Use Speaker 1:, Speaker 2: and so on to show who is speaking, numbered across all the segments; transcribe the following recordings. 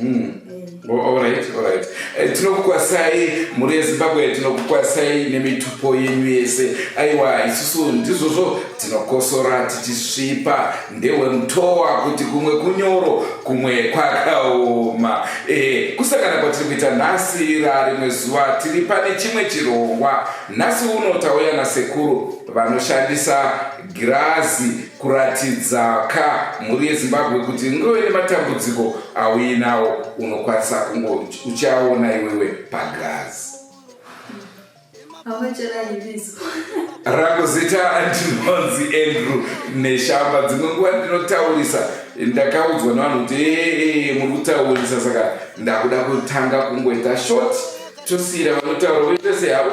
Speaker 1: Mm.
Speaker 2: Eh, tinokukwasai mhuri yezimbabwe tinokukwasai nemitupo yenyu yese aiwa isusu ndizvozvo tinokosora tichisvipa ndewemutowa kuti kumwe kunyoro kumwe kwakaoma e, kusangana kwatiri kuita nhasi rarimwe zuva tiri pane chimwe chirongwa nhasi uno tauya nasekuru vanoshandisa girazi kuratidza ka mhuri yezimbabwe kuti ngove nematambudziko auinawo unokwanisa kungo uchaona iwewe pagirazi rangu zita ndinonzi andrew neshamba dzimwe nguva ndinotaurisa ndakaudzwa nevanhu kuti ee muri kutaurisa saka ndakuda kutanga kungoita short tosiyira vanotaura voita sehavo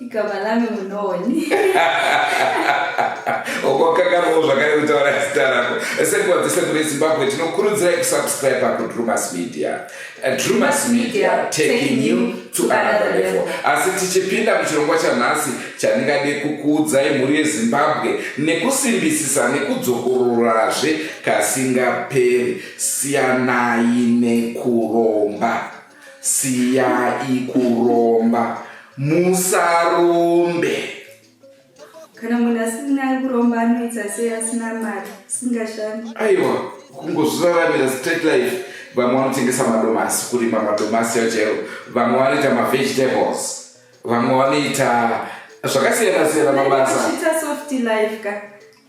Speaker 2: igama
Speaker 1: lami munoni
Speaker 2: okwakangamao zvakare kutaura zita rako sekuva dzese kune zimbabwe tinokurudzirai kusubscribe kudrumas media eh, drumas media taking you to another level asi tichipinda muchirongwa chanhasi chandingade kukuudzai mhuri yezimbabwe nekusimbisisa nekudzokororazve kasingaperi siyanai nekuromba Siyai kuromba. Musarombe.
Speaker 1: Kana munhu asina kuromba anoita sei asina mari singashandi. Aiwa
Speaker 2: kungozviraramira straight life. Vamwe vanotengesa madomasi kurima madomasi ayo chaiwo. Vamwe vanoita mavegetables. Vamwe vanoita zvakasiyana siyana mabasa. Kuita soft
Speaker 1: life ka.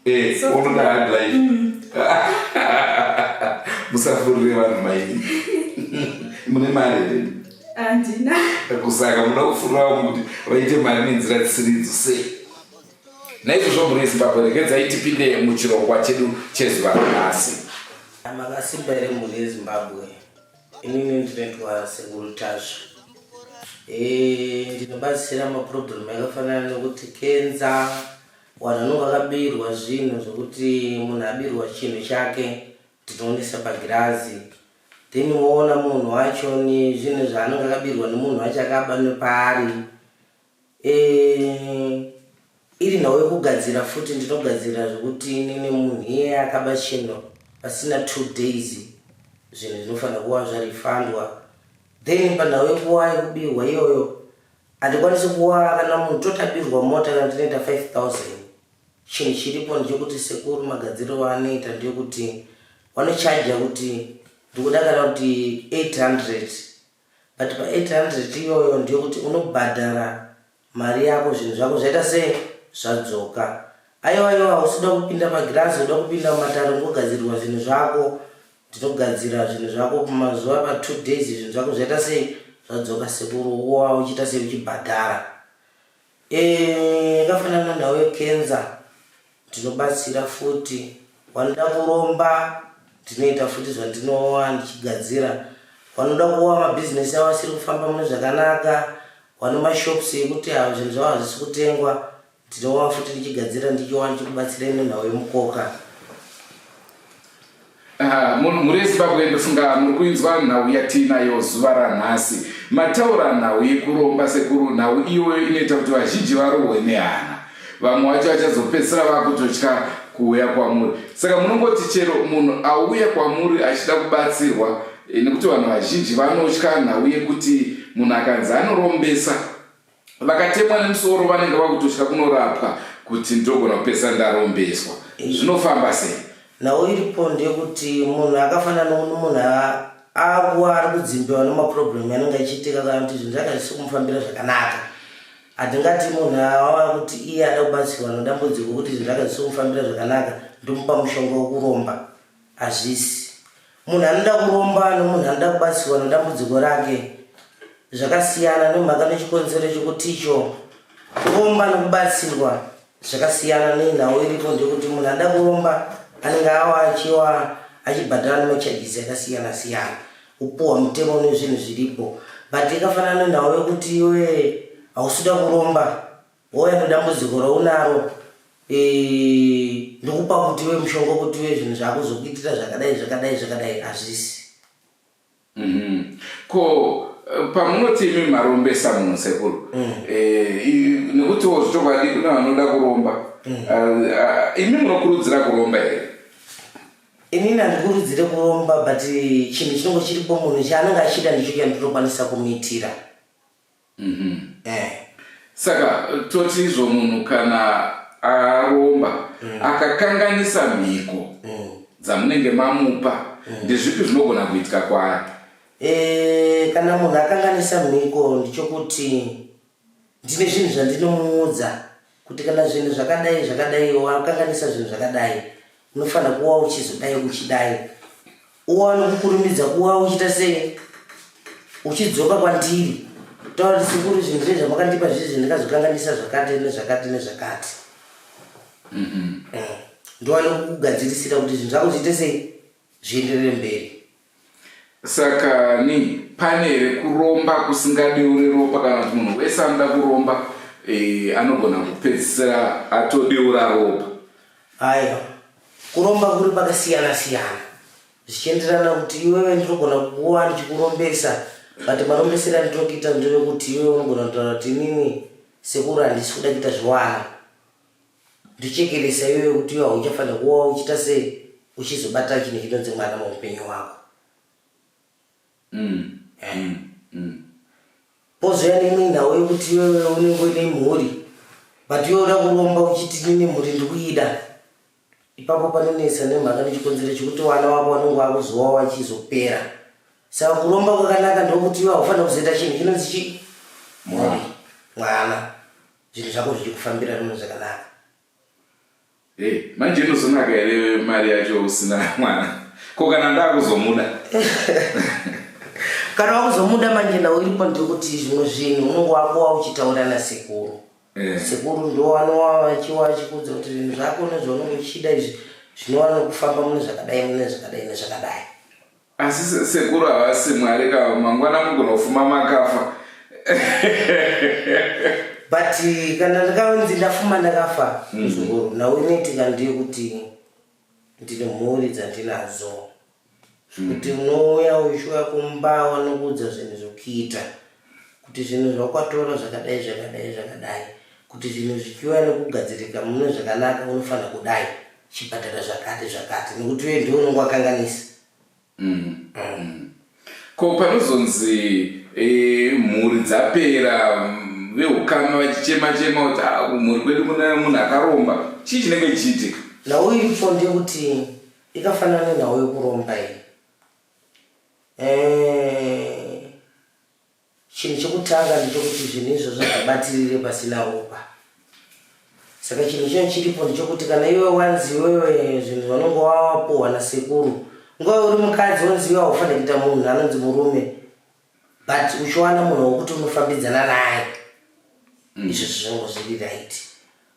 Speaker 1: Eh, unoda
Speaker 2: hard life. Mm. Musafurire vanhu maini. Mune mari here? Andina.
Speaker 1: Kusaka munoda
Speaker 2: kufurirawo kuti vaite mari nenzira dzisiri idzo sei? Naizvozvo mhuri yeZimbabwe regedzai tipinde muchirongwa chedu chezuva ranhasi. Makasimba
Speaker 3: here mhuri yeZimbabwe? Inini ndinoitwa sekuru Tasva. Eh, ndinobatsira maproblem akafanana nekuti kenza Wanhu vakabirwa zvinhu zvekuti munhu abirwa chinhu chake tinoonesa pagirazi then woona munhu wacho nezvinhu zvaanenge akabirwa nemunhu wacho akaba nepaari e, iri nhau yekugadzira futi ndinogadzira zvekuti nini munhu iye akaba chinhu pasina two days zvinhu zvinofanira kuva zvarifandwa then panhau yekuwa yekubirwa iyoyo Handikwanisi kuwara kana munhu totabirwa mota kana tinoita 5000 chinhu chiripo ndechekuti sekuru magadziriro anoita ndeyekuti vanochaja kuti ndikuda kana kuti 800 but pa 800 iyoyo ndeyekuti unobhadhara mari yako zvinhu zvako zvaita se zvadzoka aiwa iwa usida kupinda magirazi uda kupinda mumatare ungogadzirirwa zvinhu zvako Ndinogadzira zvinhu zvako mumazuva apa two days zvinhu zvako zvaita sei zvadzoka sekuru uwa uchiita sei uchibhadhara yakafanana eh, nhau yekenza ndinobatsira futi wanoda kuromba ndinoita futi zvandinowa ndichigadzira wanoda kuwa mabhizinesi avo asiri kufamba mune zvakanaka wane mashops ekuti avo zvinhu zvavo hazvisi kutengwa Tinova futi ndichigadzira ndichiwana chikubatsirei nenhau yemukoka. Ah,
Speaker 2: munhu mhuri yezimbabwe ndofunga muri kuinzwa nhau yatiinayo zuva ranhasi mataura nhau yekuromba sekuru nhau iyoyo inoita kuti vazhinji varohwe nehana vamwe wacho vachazopedzisira vakutotya kuuya kwamuri saka munongoti chero munhu auya kwamuri achida kubatsirwa eh, nekuti vanhu vazhinji vanotya nhau yekuti munhu akanzi anorombesa vakatemwa nemusoro vanenge vakutotya kunorapwa kuti ndogona kupesa ndarombeswa zvinofamba sei nhau iripo
Speaker 3: ndeyekuti munhu akafanana nokuti munhu akuwa ari kudzimbiwa nemaproblem anenge achiitika kana kuti zvinhu zvake hazvisi kumufambira zvakanaka hatingati munhu awava kuti iye ada kubatsirwa nedambudziko kuti zvinhu zvake hazvisi kumufambira zvakanaka ndomupa mushonga wekuromba Hazvisi. Munhu anoda kuromba nomunhu anoda kubatsirwa nedambudziko rake zvakasiyana nemhaka nechikonzero chekuti icho kuromba nokubatsirwa zvakasiyana nenhau iripo ndekuti munhu anoda kuromba anenge awa achiwa achibhadhara nemachajisi akasiyana siyana upuwa mutemo nezvinhu zviripo but ikafanana nenhau yekuti iwe hausida kuromba Hoya nedambudziko raunaro eh, ndokupa kuti we mushonga kuti we zvinhu zvako zvokuitira zvakadai zvakadai zvakadai hazvisi mm-hmm.
Speaker 2: ko eh, pamunoti imi marombesa munhu sekuru mm. eh, nekutiwo zvichokwadi kune vanoda kuromba mm. ah, ah, imi munokurudzira kuromba here
Speaker 3: inini handikurudzire kuromba but chinhu chinongo chiripo munhu chaanenge achida ndicho chandinokwanisa kumuitira Mhm. Eh.
Speaker 2: saka toti izvo munhu kana aromba akakanganisa mhiko Mm. dzamunenge mamupa ndezvipi zvinogona kuitika kwaari Eh,
Speaker 3: kana munhu akanganisa mhiko ndichokuti ndine zvinhu zvandinomuudza kuti kana zvinhu zvakadai zvakadai wakanganisa zvinhu zvakadai unofanira kuva uchizodai uchidai uwane kukurumidza kuva uchita sei uchidzoka kwandiri taura kuti sekuru zvinhu zve zvamakandipa zvizvi ndikazokanganisa zvakati nezvakati nezvakati mm-hmm. eh, ndiwane kukugadzirisira kuti zvinhu zvako zviite sei zvienderere mberi saka
Speaker 2: ni pane here kuromba kusingadeure ropa kana kuti munhu wese anoda kuromba e, anogona kupedzisira atodeura ropa aiwa
Speaker 3: kuromba kuri pakasiyana siyana zvichienderana kuti iwewe ndinogona kukuwa ndichikurombesa but marombesero andinoda kuita ndevekuti iwewe unogona kutaura kuti inini sekuru handisi kuda kuita zviwana Ndochekeresa iwewe kuti iwe hauchafanira kuva wauchita sei uchizobata chinhu chinonzi mwana muupenyu hwako. Mm. Eh. Mm. Mm. Pozouya neimwe nhau yekuti iwewe unenge uine mhuri but iwe uda kuromba uchiti nine mhuri ndikuida. Ipapo panonetsa nemhaka nechikonzero chekuti vana vako vanenge vakuzowa vachizopera. Saka kuromba kwakanaka ndokuti iwe haufanira kuzoita chinhu chinonzi chii? Mhuri. Mwana. zvinhu zvako zvichikufambira nono zvakanaka hey,
Speaker 2: manje inozonaka here mari yacho usina mwana ko kana ndakuzomuda
Speaker 3: kana wakuzomuda manje nawo iripo ndikuti zvimwe zvinhu unenge wakuwa uchitaura nasekuru eh. sekuru ndo wanowa vachiwa vachikudza kuti zvinhu zvako nezvaunenge uchida izvi zvinova nokufamba mune zvakadai mune zvakadai nezvakadai Asi
Speaker 2: sekuru havasi mwari ka mangwana mugonofuma makafa.
Speaker 3: But kana ndakaunzi ndafuma ndakafa mm. muzukuru now unoitika ndiyo kuti ndine mhuri dzandinadzo mm. kuti unouya uchiuya kumba wanokuudza zvinhu zvokuita kuti zvinhu zvakwatoro zvakadai zvakadai zvakadai kuti zvinhu zvichiuya nekugadzirika mune zvakanaka unofanira kudai chibhadhara zvakati zvakati nekuti uye ndiwo unenge wakanganisa mm. mm.
Speaker 2: ko panozonzi e, mhuri dzapera mm, veukama vachichema chema kuti ah, mhuri kwedu mune munhu akaromba chii chinenge chichiitika nhau iripo
Speaker 3: ndeyekuti ikafanana nenhau yekuromba iyi Eh, chinhu chekutanga ndechokuti zvinhu izvozvo zvabatirire pasina ropa saka chinhu chino chiripo ndechokuti kana iwe wanzi iwewe zvinhu vanonge wapuhwa nasekuru nguva uri mukadzi wanzi iwe haufanire kuita munhu anonzi murume but uchiwana munhu wokuti unofambidzana naye izvozvo zvango zviri right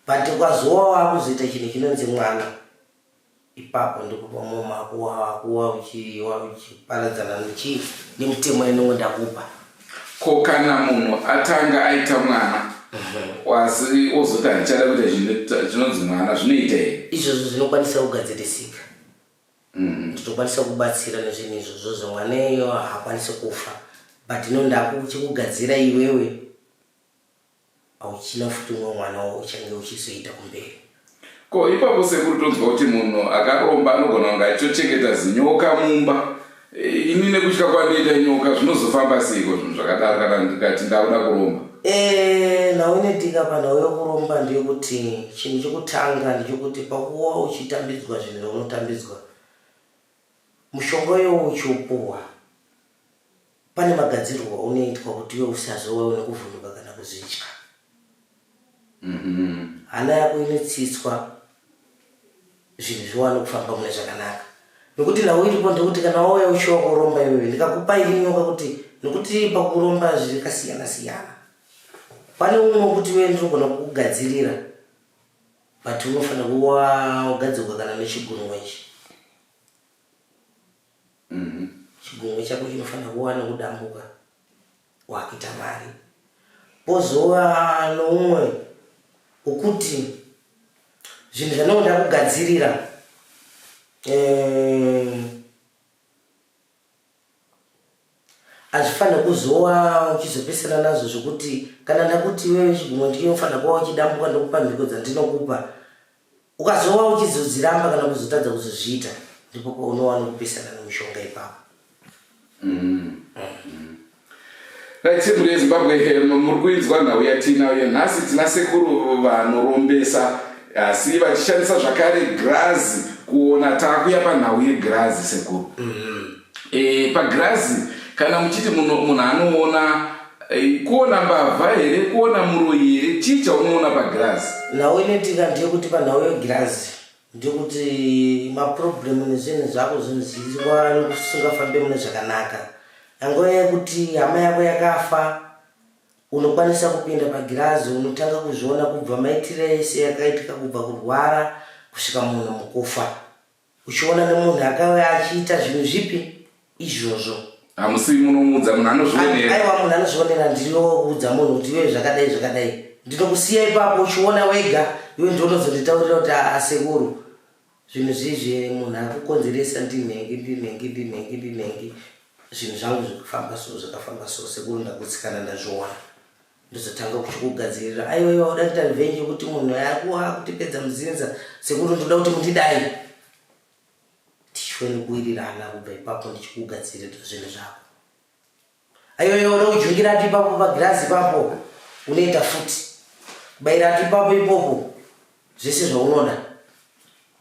Speaker 3: but ukazowa wakuzoita chinhu chinonzi mwana Ipapo ndipo pamwe makuwa wakuwa uchiwa uchiparadzana nechii nemitemo yanenge ndakupa. Ko
Speaker 2: kana munhu atanga aita mwana wasi ozoti handichada kuita zvinhu zvinonzi
Speaker 3: mwana
Speaker 2: zvinoita here? Izvozvo
Speaker 3: zvinokwanisa
Speaker 2: kugadzirisika.
Speaker 3: Ndinokwanisa kubatsira nezvinhu izvozvo zvemwana iyeyo haakwanisi kufa but no ndakuchikugadzira iwewe. Hauchina futi umwe mwana wauchange uchizoita kumberi. Ko ipapo
Speaker 2: sekuru tonzwa kuti munhu akaromba anogona kunge achitochengeta zinyoka mumba. Eh, ini nekutya kwandiita nyoka zvinozofamba seiko zvinhu zvakadaro kana ndikati ndakuda kuromba. Eh, nhau
Speaker 3: inoitika panhau yokuromba ndeyokuti chinhu chokutanga ndechokuti pakuva uchitambidzwa zvinhu zvaunotambidzwa, mushonga uyowo uchiupuhwa, Pane magadzirirwo aunoitwa kuti iwe usazowa une kuvhunduka kana kuzvitya. Mhm. Hana yako inotsitswa zvinhu zviwane kufamba mune zvakanaka. Nokuti nhau iripo ndekuti kana wauya uchiwa kuromba iwewe ndikakupa ini nyoka kuti nokuti pakuromba zviri kasiyana siyana. Pane umwe wekuti iwe ndinogona kukugadzirira but unofanira kuwa wagadzirwa kana nechigunwe ichi. chigumwe chako chinofanira kuva nokudambuka wakuita mari pozova noumwe ukuti zvinhu zvanoda kugadzirira eh, Hazvifanire kuzowa uchizopesana nazvo zvekuti kana ndakuti iwewe chigumwe ndiye unofanira kuva uchidambuka ndokupa mhiko dzandinokupa. Ukazowa uchizodziramba kana kuzotadza kuzozviita ndipo paunowa nokupesana nomushonga ipapo. Mm.
Speaker 2: Right, sekuru yezimbabwe eh, muri kuinzwa nhau yatiinayo nhasi tina sekuru vanorombesa asi vachishandisa zvakare grazi kuona takuya panhau yegrazi sekuru mm -hmm. e, pagirazi kana muchiti munhu anoona e, kuona mbavha here kuona muroyi here chii chaunoona pagirazi nhau inoitika
Speaker 3: ndeyekuti panhau yegirazi ndekuti maproblemu nezvinhu zvako zvinhu zviziwa nekusingafambe mune zvakanaka angova yekuti hama yako yakafa unokwanisa kupinda pagirazi unotanga kuzviona kubva maitire ese yakaitika kubva kurwara kusvika munhu mukufa Uchiona nemunhu akauya achiita zvinhu zvipi izvozvo? Hamusi
Speaker 2: munomuudza munhu anozvionera. Aiwa munhu anozvionera
Speaker 3: ndinoudza munhu kuti iwe zvakadai zvakadai. Ndinokusiya ipapo uchiona wega iwe ndiwe unozonditaurira kuti asekuru zvinhu zvizvi munhu akukonzeresa ndinhengi ndinhengi ndinhengi ndinhengi zvinhu zvangu zvikafamba so zvikafamba so sekuru ndakutsikana ndazviona. ndozotanga kuchikugadzirira aiwa iwa uda kuita revenge yekuti munhu akuwa kutipedza muzinza sekuru ndoda kuti mundidai tichione kuwirirana kubva ipapo ndichikugadzirira zvinhu zvako aiwa iwa uda kujungira ati ipapo pagirazi ipapo unoita futi kubaira ati ipapo ipopo zvese zvaunoda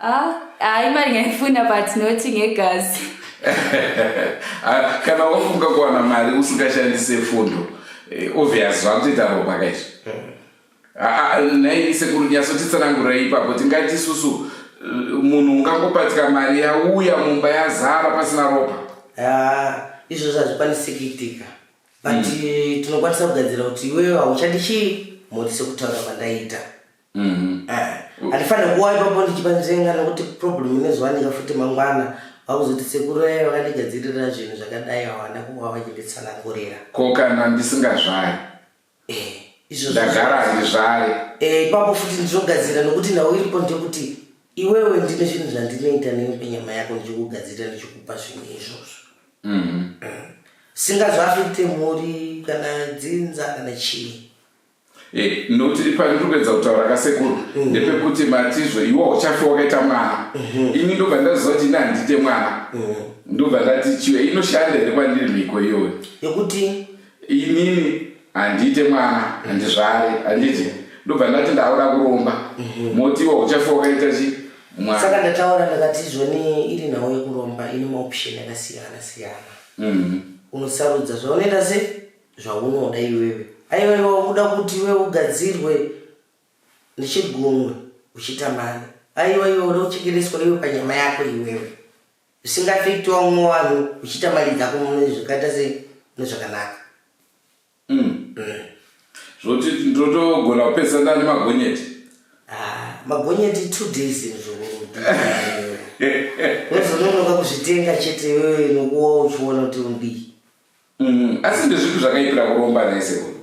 Speaker 2: Ah,
Speaker 1: ah, imari yaifuna but not ngegazi. Ah,
Speaker 2: kana wafunga kuwana mari usingashandise fundo eh, obvious zvakutoita ropa kaizvo ah, ah, nhai sekuru nyatsotitsanangurira ipapo tingati isusu eh, munhu ungangopatika mari yauya mumba yazara pasina ropa
Speaker 3: izvozvo hazvikwanisi kuitika but hmm. tinokwanisa kugadzira kuti iwewe hauchadi chii mhuri sekutaura kwandaita Mhm. Ah, handifanire kuwa ipapo ndichipanzenga nokuti problem inozowanika futi mangwana vakuzoti sekuru vaya vakandigadzirira zvinhu zvakadai hawana kuva vachinditsanangurira ko kana
Speaker 2: ndisingazvari Eh,
Speaker 3: izvozvo ndagara
Speaker 2: handizvari
Speaker 3: Eh, ipapo futi ndinogadzira nokuti
Speaker 2: nhau
Speaker 3: iripo ndekuti iwewe ndine zvinhu zvandinoita newe penyama yako ndichikugadzirira ndichikupa zvinhu izvozvo Mhm. singazvafite mhuri kana dzinza kana chii Eh,
Speaker 2: noti pano tiri kuedza kutaura kasekuru mhm. ndepekuti matizvo iwo uchafe wakaita mwana mhm. ini ndobva ndaziva kuti ini handiite mwana mhm. ndobva ndati chiwe inoshanda here kwandiri mhiko iyoyo yekuti
Speaker 3: inini
Speaker 2: handiite mwana handizvare handiti ndobva ndati ndaura kuromba moti iwo uchafe wakaita chi saka ndataura ndakati
Speaker 3: izvoni iri nhau yekuromba ine maoption akasiyana siyana unosarudza zvaunoita sei zvaunoda iwewe aiwaiwa uda kuti iwe ugadzirwe nechigunwe uchitamani aiwa iwe uda kuchekereswa iwe panyama yako iwewe usingafekti wamwe vanhu uchiita mari dzako mune zvakaita se nezvakanaka mm. mm.
Speaker 2: zvoti ndotogona kupedza ndani magonyeti ah,
Speaker 3: magonyeti two days zvozononoka kuzvitenga chete iwewe nokuwa uchiona kuti undii Mm, asi
Speaker 2: ndezvipi zvakaipira kuromba nhai sekuru?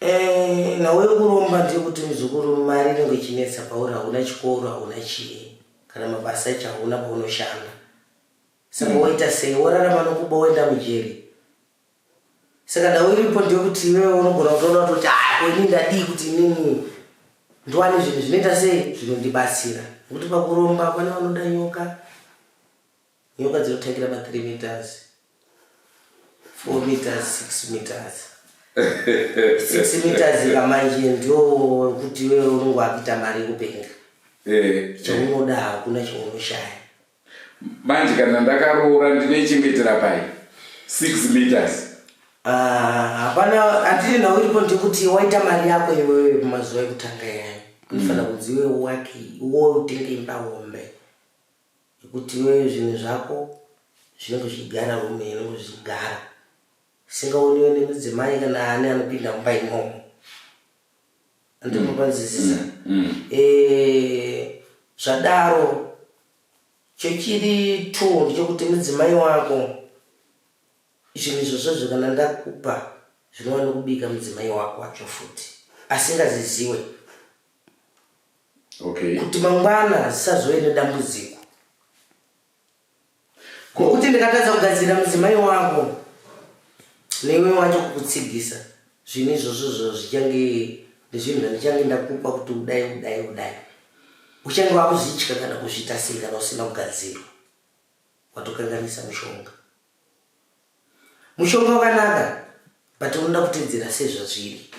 Speaker 2: Eh,
Speaker 3: nhau yekuromba ndeyekuti muzukuru mari inenge ichinetsa pauri hauna chikoro hauna chii kana mabasa echo hauna paunoshanda saka mm. woita sei worarama nokuba woenda mujeri saka nhau iripo ndeyekuti iwewe unogona kutoona kutoti ah, ini ndadii kuti inini ndiwane zvinhu zvinoita sei zvinondibatsira nekuti pakuromba pane vanoda nyoka Nyoka dzinotangira pa 3 meters, 4 meters, 6 meters. 6 meters kamanje ndio kuti wewe unenge wakuita mari yekupenga. Eh, chaunoda eh. hakuna chaunoshaya.
Speaker 2: Manje kana ndakaroora ndinoichengetera pai 6 meters. Ah,
Speaker 3: hapana hatiri nhau iripo ndikuti waita mari yako iwewe mazuva ekutanga yani. Unofanira mm. kunzi iwe wake, iwe utenge imba hombe. Nekuti iwewe zvinhu zvako zvinenge zvichigara rume inenge zvichigara singaoniwe nemudzimai kana ani anopinda mumba imomo andinopanzisisa mm. mm. eh, zvadaro chechiri two ndechekuti mudzimai wako zvinhu izvozvozvo kana ndakupa zvinova nekubika mudzimai wako wacho futi asingaziziwe okay. kuti mangwana zisazove nedambudziko ngokuti ndikatadza kugadzirira mudzimai wako neiwe wacho kukutsigisa zvinhu izvozvo zvo zvichange ndezvinhu zvandichange ndakupa kuti udai udai udai uchange wakuzvitya kana kuzviita sei kana usina kugadzirwa watokanganisa mushonga mushonga wakanaka but unoda kutedzera sezvazviri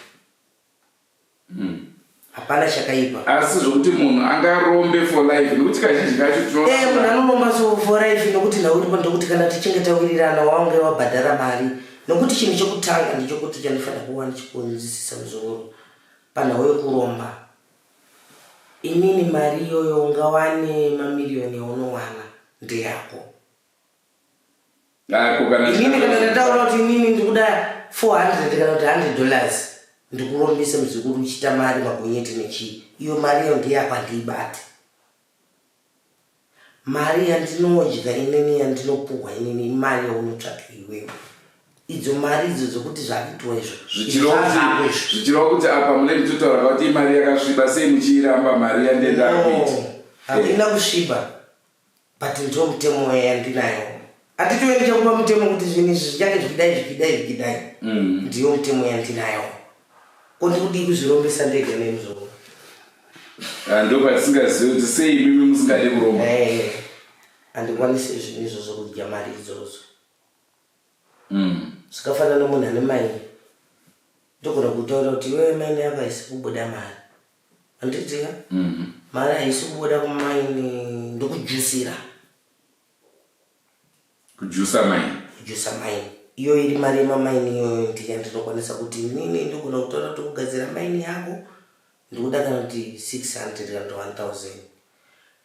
Speaker 3: hapana mm. chakaipa asi zvokuti munhu
Speaker 2: angarombe for life nokuti kazhinji kacho tinoona eh, munhu anoromba so
Speaker 3: for life nokuti nhau iripo ndokuti kana tichinge tawirirana waunge wabhadhara mari nokuti chinhu chekutanga ndechokuti chandifanira kuva ndichikunzisisa muzoro panhau yokuromba inini mari iyoyo ungawane mamiriyoni yaunowana ndeyako inini kana ndataura kuti inini ndikuda 400 kana kuti 100 dollars ndikurombise muzukuru uchita mari magonyeti nechii iyo mari iyo ndiyapa ndiibate mari yandinodya inini yandinopuhwa inini imari yaunotsvaka iwewe idzo mari idzo dzokuti zvakuitwa izvozvichirova
Speaker 2: kuti apa mune kutotaura kuti imari yakasviba sei muchiiramba mari yandenda kuita hakuina kusviba
Speaker 3: But ndiwo mutemo uya yandinayo atitove ndichakupa mutemo kuti zvinhu izvi zvichange zvikidai zvikidai zvikidai mm. ndiyo mutemo yandinayo ko ndikudii kuzvirombesa ndega nemuzvoo ah,
Speaker 2: ndopatisingazivi kuti sei imimi musingade kuromba eh,
Speaker 3: handikwanise zvinhu izvo zvokudya mari idzodzo mm. zvikafanana nomunhu ane mai ndogona kutaura kuti iwe maine yako haisi kubuda mari Anditiya. Mhm. Mari haisi kubuda kumaini ndokujusira.
Speaker 2: Kujusa maini. Kujusa maini.
Speaker 3: Iyo iri mari yemamaini iyoyo ndiya ndinokwanisa kuti nini ndogona kutaura kuti kugadzira maini yako ndikuda kana kuti 600 kana kuti 1000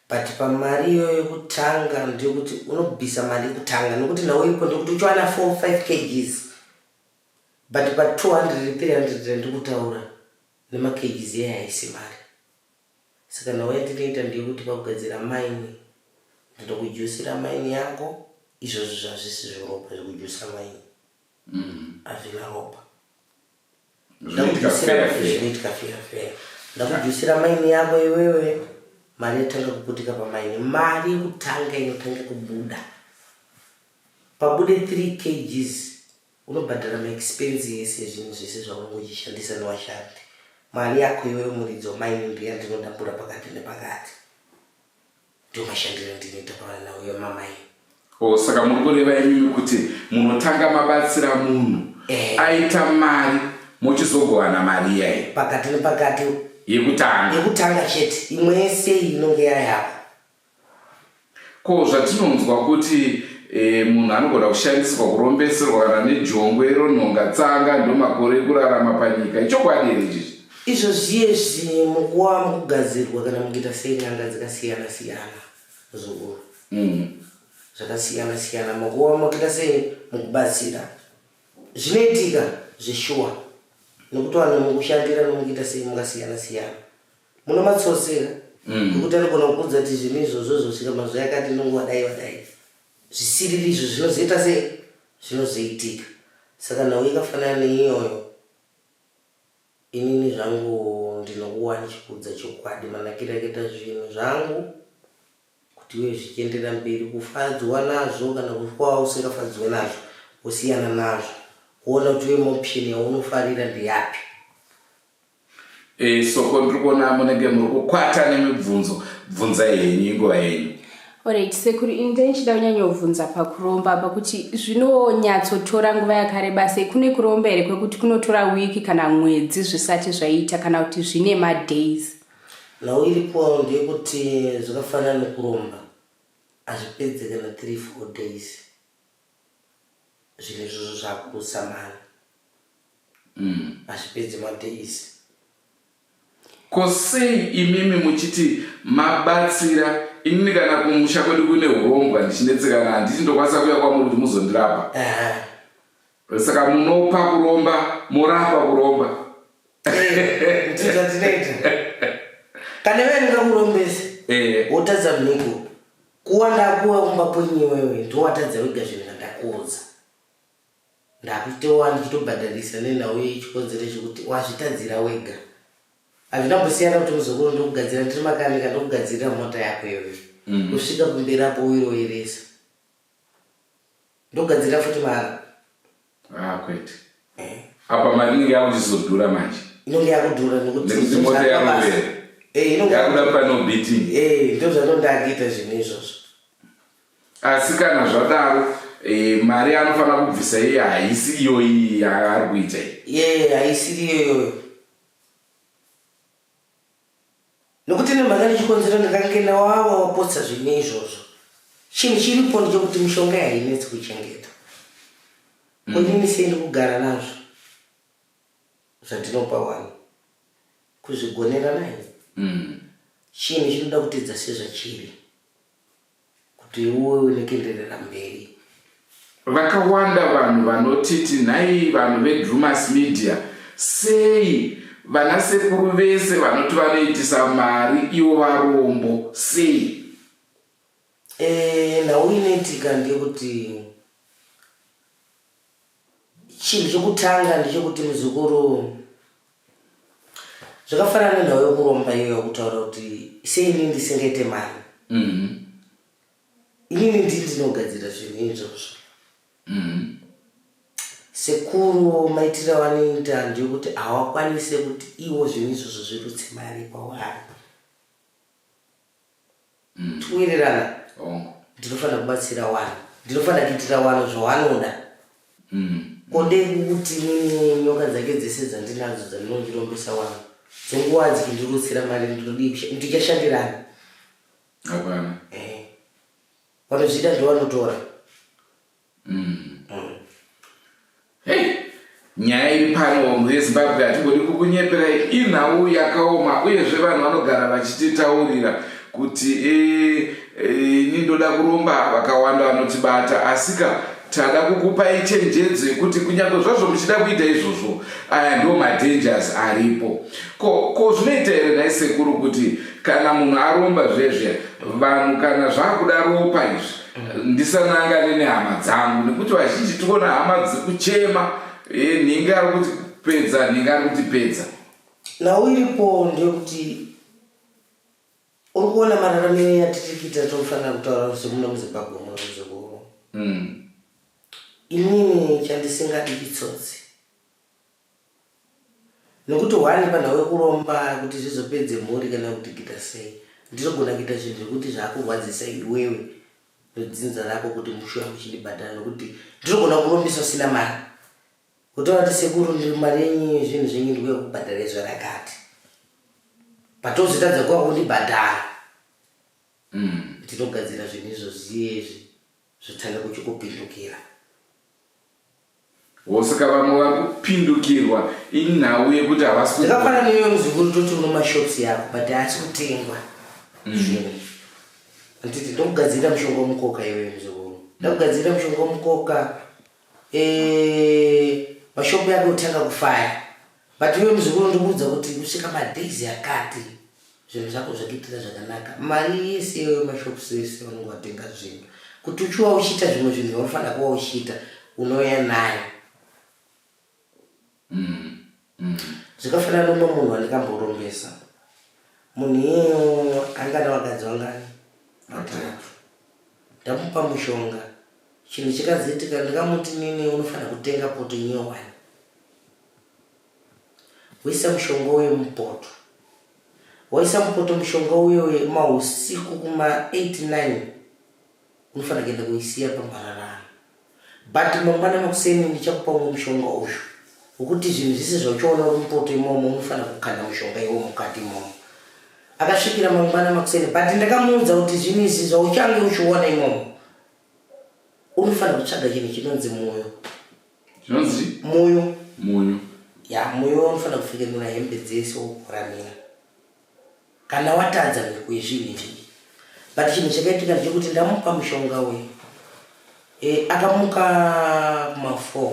Speaker 3: but pamari iyoyo yekutanga ndeyekuti unobvisa mari yekutanga nekuti nhau iripo ndekuti uchiwana 4 5 kgs but pa 200 300 ndikutaura Nema cages iyaya haisi mari saka nhau yatinoita ndeyekuti pakugadzira mine ndinokujuisira mine yako izvozvo zvazvisi zveropa zvekujuisa mine hazvina ropa Zvinoitika fair fair. zvinoitika fair fair ndakujuisira mine yako iwewe mari yatanga kuputika pamine mari yekutanga inotanga kubuda pabude 3 cages Unobhadhara ma expense ese ezvinhu zvese zvaunenge uchishandisa newashandi. Mari yako iwe wemuridzi wamaini ndiyo yandinodambura pakati nepakati. Ndiwo mashandiro andinoita pavana uye mamaini. Oh, saka muri kureva
Speaker 2: imimi kuti munotanga mabatsira munhu Eh. aita mari mochizogovana mari iyayi Pakati nepakati
Speaker 3: yekutanga yekutanga chete imwe yese iyi inonge yayako.
Speaker 2: Ko zvatinonzwa kuti e, munhu anogona kushandisirwa kurombeserwa kana nejongwe ronhonga tsanga ndomakore ekurarama panyika ichokwadi here chichi izvo zviye
Speaker 3: zvinhu mukuwa mukugadzirwa kana mukuita sei nyanga dzakasiyana siyana zvokuva mm. zvakasiyana siyana mukuwa mukuita sei mukubatsira zvinoitika zveshuwa nokutwana mukushandira nomukuita sei mukasiyana siyana Muno matsotsi here? Mm. Nekuti anogona kukuudza kuti zvinhu izvozvo zvosvika mazuva yakati nonguva dai vadai. Zvisiriri izvo zvinozoita sei? Zvinozoitika. Saka nhau yakafanana neiyoyo inini zvangu ndinokuwa ndichikuudza chokwadi manakiro akaita zvinhu zvangu kuti uye zvichienderera mberi kufadzwa nazvo kana kufa usingafadzwe nazvo wosiyana nazvo kuona kuti uye maoption yaunofarira ndeyapi Eh,
Speaker 2: soko ndiri kuona munenge muri kukwata nemibvunzo bvunzai henyu inguva yenyu orit sekuru
Speaker 4: ini ndaichida kunyanyobvunza pakuromba pakuti zvinonyatsotora nguva yakareba sei kune kuromba here kwekuti kunotora wiki kana mwedzi zvisati zvaita kana kuti zvine madays nhau
Speaker 3: iripo ndeyekuti zvakafanana nekuromba hazvipedze kana three four days zvinhu izvozvo zvakubusa mari mm. hazvipedzi madays
Speaker 2: ko sei imimi muchiti mabatsira inini kana kumusha kwedu kune urombwa ndichinetsekana handiti ndokwanisa kuya kwamuri kuti muzondirapa saka munopa kuromba morapa kuromba eh,
Speaker 3: kana ive ndingakurombese eh. wotadza mhiko Kuwa ndakuwa kumba kwenyu iwewe ndowatadza wega zvinhu zvandakuudza. Ndakutowa ndichitobhadharisa nenhau iyi chikonzero chekuti wazvitadzira wega. Hazvina mbosiyana kuti muzukuru ndokugadzira ndiri makanika ndokugadzirira mota yako iwe. Mm. Kusvika kumberi apo uyiroyeresa. Ndogadzira futi mara. Ah
Speaker 2: kwete. Eh. Apa mari inenge yakuchizodhura manje. Inenge yakudhura
Speaker 3: nekuti nekuti mota
Speaker 2: yakuwera. Eh inenge yakuda pano beating. Eh ndizvo
Speaker 3: zvanondakiita zvinhu izvozvo.
Speaker 2: Asi kana zvadaro e, mari anofanira kubvisa iye haisi iyoyi yaari kuita iye haisiri
Speaker 3: iyoyoyo nokuti nemhaka nechikonzero ndakange ndawawa wapotsa zvine izvozvo chinhu chiripo ndechokuti mishonga yainetsi kuchengeta kundini mm. sendi kugara nazvo zvandinopa wani kuzvigonera naye mm. chinhu chinoda kutidza sezvachiri kuti uwe une kuenderera mberi. Vakawanda
Speaker 2: vanhu vanotiti nhai vanhu vedrumas media sei vana sekuru vese vanoti vanoitisa mari ivo varombo sei e,
Speaker 3: nhau inoitika ndeyekuti Chinhu chokutanga ndechekuti muzukuru zvakafanana nenhau yokuromba iyoyo yokutaura kuti sei ini ndisingaite mari mhm. inini ndii ndinogadzira zvinhu izvozvo mhm. sekuru maitiro avanoita ndeyekuti hawakwanise kuti iwo zvinhu izvozvo zvirutse mari kwavari mm. tiwirirana hongu ndinofanira kubatsira wani ndinofanira kuitira wani zvawanoda mm. ko ndekuti nyoka dzake dzese dzandinadzo dzandinondirombesa wani dzenguva dzikindirutsira mari ndinodii ndichashandirani hapana
Speaker 2: eh.
Speaker 3: vanozviita ndovanotora mm.
Speaker 2: hey nyaya iri pano mhuri yezimbabwe hatigoni kukunyeperai inhau yakaoma uyezve vanhu vanogara vachititaurira kuti eh, eh, ini ndoda kuromba vakawanda vanotibata asika tada kukupai chenjedzo yekuti kunyange zvazvo muchida kuita izvozvo aya ndo madangers aripo ko ko zvinoita here nhai sekuru kuti kana munhu aromba zvezve vanhu kana zvakuda ropa izvi ndisanangane nehama dzangu nekuti vazhinji tikuona hama dziri kuchema eh, nhingi ari kuti pedza nhingi ari kuti pedza nhau iripo
Speaker 3: ndeyekuti
Speaker 2: uri
Speaker 3: kuona mararamiro yatiri kuita tofanira kutaura kuti muno muzimbabwe muno muzukuru mm. inini chandisingadi itsotsi Nokuti hwani panhau yokuromba kuti zvizopedze mhuri kana kuti kuita sei, ndinogona kuita zvinhu zvokuti zvakurwadzisa iwewe nedzinza rako kuti mushuya muchindibhadhara nokuti ndinogona kurombisa usina mari. Wotaura kuti sekuru ndiri mari yenyu zvinhu zvenyu ndikuya kubhadhara izvo rakati. Patozotadza kuya kundibhadhara. Mm. Ndinogadzira zvinhu izvo zviye izvi zvotanga kuchikupindukira.
Speaker 2: Wo saka vamwe vari kupindukirwa inhau yekuti havasi ku- Zvakafanana newe muzukuru
Speaker 3: toti uno mashops yako but haasi kutengwa zvinhu. Handiti ndokugadzirira mushonga wemukoka iwewe muzukuru. Ndakugadzirira mushonga wemukoka eh mashop yako otanga kufaya. But iwe muzukuru ndikuudza kuti kusvika madays akati zvinhu zvako zvakuitira zvakanaka mari yese iyoyo mashops ese vanenge vatenga zvinhu kuti uchiwa uchiita zvimwe zvinhu vanofanira kuva uchiita unouya nayo mm, mm. zvikafanira nomwe munhu andikamborombesa munhu iyeyo angana vakadzi vangani vatatu ndamupa mushonga chinhu chikazoitika ndikamuti nini unofanira kutenga poto nyowani Woisa mushonga uye mupoto. Waisa mupoto mushonga uye uye mahusiku kuma 89 unofanira kuenda kuisiya pamhararano. But mangwana makuseni ndichakupa umwe mushonga uyu wokuti zvinhu zvese zvauchaona uri mupoto imomo unofanira kukanda mushonga iwo mukati imomo. Akasvikira mangwana makuseni but ndakamuudza kuti zvinhu izvi zvauchange uchiona imomo unofanira kutsvaga chinhu chinonzi mwoyo
Speaker 2: zvinonzi munyu
Speaker 3: munyu
Speaker 2: ya munyu
Speaker 3: unofanira kupfekenura hembe dzese wokuramira kana watadza mhiko yezvinhu izvi but chinhu chakaitika ndechekuti ndamupa mushonga uyu e, akamuka kuma4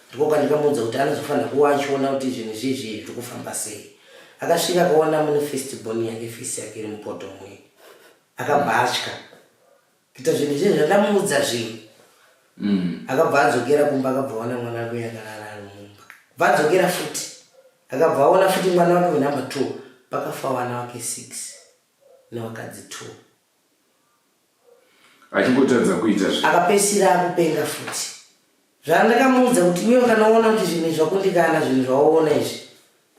Speaker 3: ndiko kandikamuudza kuti anozofanira kuva achiona kuti zvinhu zvizvi zviri kufamba sei akasvika akaona mune festibon yake fesi yake iri mupoto mwe akabva atya kuita zvinhu zvinhu zvandamuudza zvinhu mm. akabva adzokera kumba akabva aona mwana wake yakarara ari mumba bva adzokera futi akabva aona futi mwana wake wenumbe two pakafa wana wake six newakadzi two
Speaker 2: achingotadza kuita zvi akapesira akupenga
Speaker 3: futi zvandakamuudza kuti iwe ukanoona kuti zvinhu zvakundikana zvinhu zvaoona izvi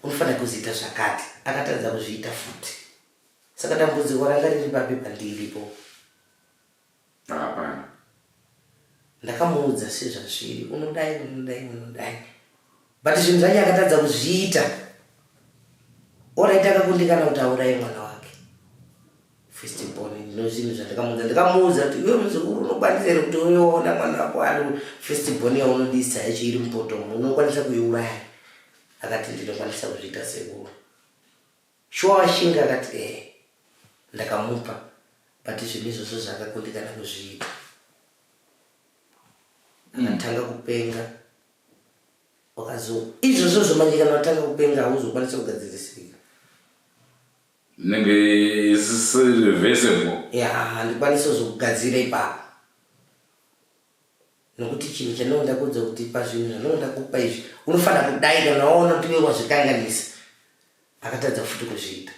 Speaker 3: unofanira kuziita zvakati akatadza kuzviita futi Saka dambudziko ranga riri papi pandiripo? Hapana.
Speaker 2: Ndakamuudza
Speaker 3: sezvazviri, unodai, unodai, unodai. But zvinhu zvacho akatadza kuzviita. Oraita akakundikana kuti auraye mwana wake. First born, no zvinhu zvandakamuudza. Ndakamuudza kuti iwe muzukuru unokwanisa here kuti uyoona mwana wako ari first born yaunodisa yacho iri mupoto, unokwanisa kuiuraya. Akati ndinokwanisa kuzviita sekuru. Shuwa Ashinga akati ehe ndakamupa but zvinhu izvozvo zvaakakundikana kuzviita mm. akatanga kupenga wakazo izvozvo zvomanje kana watanga kupenga hauzokwanisa kugadzirisika nenge
Speaker 2: isirevesebo ya handikwanisa
Speaker 3: kuzokugadzira ipapo nokuti chinhu chandinoda kuudza kuti pazvinhu zvandinoda kupa izvi unofanira kudai kana waona kuti iwe wazvikanganisa akatadza futi kuzviita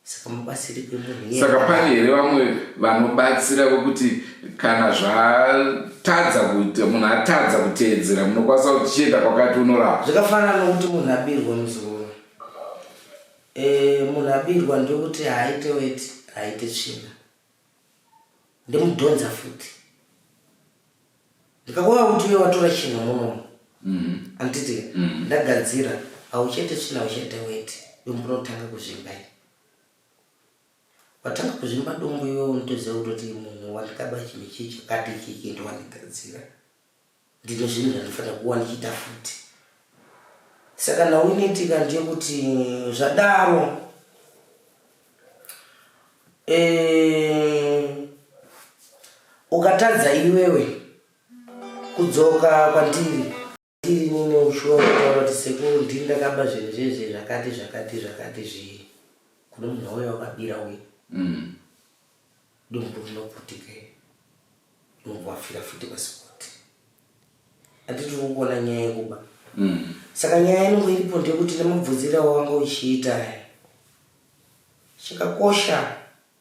Speaker 3: saka mubatsiri kwemunhu saka pane here vamwe
Speaker 2: vanobatsira kwekuti kana zvatadza kuita munhu atadza kuteedzera munokwanisa kuti chienda kwakati unorapa zvakafanana nokuti munhu
Speaker 3: abirwa muzuro eh, munhu abirwa ndokuti haaite weti haaite tsvina ndimudhonza futi ndikakuva kuti uye watora chinhu munomu mm-hmm. anditi mm-hmm. ndagadzira hauchete china hauchete weti yombunotanga kuzvimba i watanga kuzvimba dombo iwe unotoziva kutoti munhu wandikaba chinhu chii chakati chiki ndowandigadzira ndine zvinhu zvandifanira kuwa ndichiita futi saka nauinetika ndeyekuti zvadaro eh, ukatadza iwewe kudzoka kwandiri ndiri nini ushuwa kutaura kuti sekuru ndiri ndakaba zvinhu zvezve zvakati zvakati zvakati zvii kune munhu wauya wakabira uye mm. Dumbu rinoputika iri. Dumbu afira futi pasikoti. Anditi ukuona nyaya yekuba. Mm. Saka nyaya yangu iripo ndekuti nemubvunzira wawanga uchiita aya. Chakakosha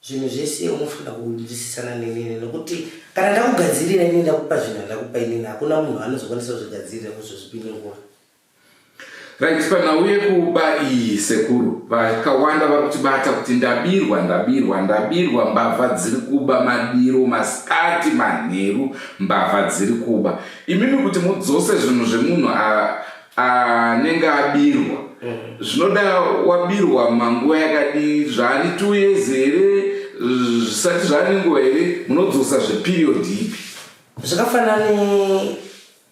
Speaker 3: zvinhu zvese unofanira kunzwisisana nenini nekuti kana ndakugadzirira ini ndakupa zvinhu andakupa inini hakuna munhu anozokwanisa kuzvigadzirira kuzozvipiningura
Speaker 2: Right panhau yekuba iyi sekuru vakawanda vari kutibata kuti ndabirwa ndabirwa ndabirwa mbavha dziri kuba madiro masikati manheru mbavha dziri kuba imimi kuti mudzose zvinhu zvemunhu anenge abirwa zvinoda wabirwa manguva yakadii zvaani two years here zvisati zvaani nguva here munodzosa zveperiod ipi zvakafanani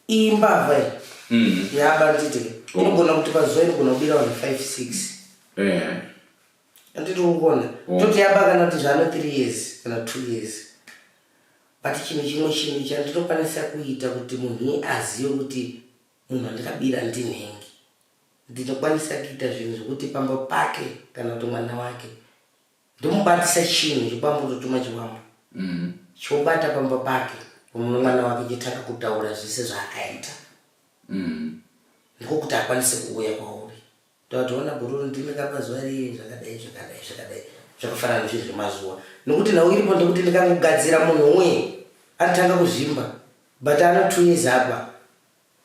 Speaker 3: iyi mbavha iyi mm. yabanditi oh. inogona kuti pazuva inogona kubira vanhu five six eh. anditi ukona oh. toti yaba kana kuti zvano three years kana two years but chinhu chimwe chinhu chandinokwanisa kuita kuti munhu azive kuti munhu andikabira ndinhengi ndinokwanisa kuita zvinhu zvekuti pamba pake kana kuti mwana wake ndomubatisa chinhu chibambo ndotuma chibambo mm. chobata pamba pake unono mwana wake chitanga kutaura zvese zvaakaita mm. ndiko kuti akwanise kuuya kwauri tatoona gururu ndimi kapa zuva riye zvakadai zvakadai zvakadai zvakafanana nezvinhu zvemazuva nokuti nhau iripo ndekuti ndikangogadzira munhu umwe anotanga kuzvimba but ano two years apa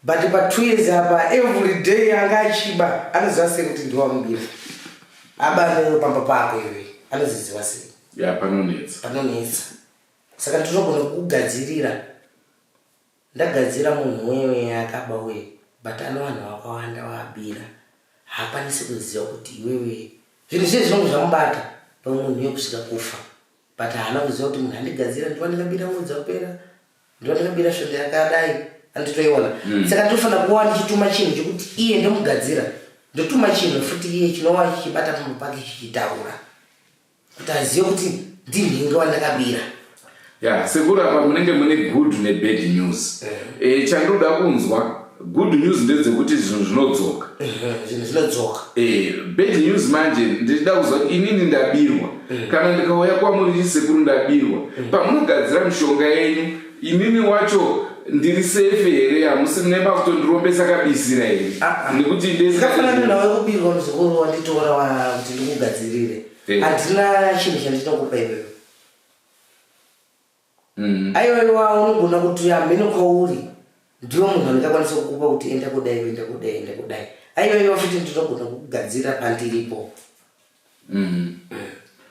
Speaker 3: But pa two years apa every day anga achiba anoziva sei kuti ndiwamubira aba anono pamba pako iwe anozviziva sei ya panonetsa panonetsa saka ndinogona kugadzirira ndagadzira munhu wewe akaba uye but ano vanhu vakawanda waabira haakwanisi kuziva kuti iwewe zvinhu zviye zvinonge zvamubata pamwe munhu yekusvika kufa but haana kuziva kuti munhu andigadzira ndiva ndingabira mwedzi dzapera ndiva ndingabira svondo yakadai anditoiona mm. saka ndinofanira kuva ndichituma chinhu chekuti iye ndomugadzira ndotuma chinhu futi iye chinova chichibata pamwe pake chichitaura kuti azive kuti ndinhinge wandakabira ya
Speaker 2: sekuru apa munenge mune good nebad news eh. eh, chandoda kunzwa good news ndedzekuti zvinhu zvinodzoka zvinhu zvinodzoka eh, bad news manje ndichida kuziva kuti inini ndabirwa eh. kana ndikauya kwamuri ndi sekuru ndabirwa eh. pamunogadzira mishonga yenyu inini wacho ndiri sefe here hamusi muneba kutondirombesa kabisira here ah, ah. nekuti ndekafanana nawe
Speaker 3: kubirwa muzukuru wanditora kuti ndikugadzirire handina chinhu chandinokupa iwewe Mm. Aiwaiwa unogona kuti hameno kwauri ndiwo munhu andingakwanisa kukupa kuti enda kudai enda kudai enda kudai aiwaiwa futi ndinogona kukugadzira pandiripo mm.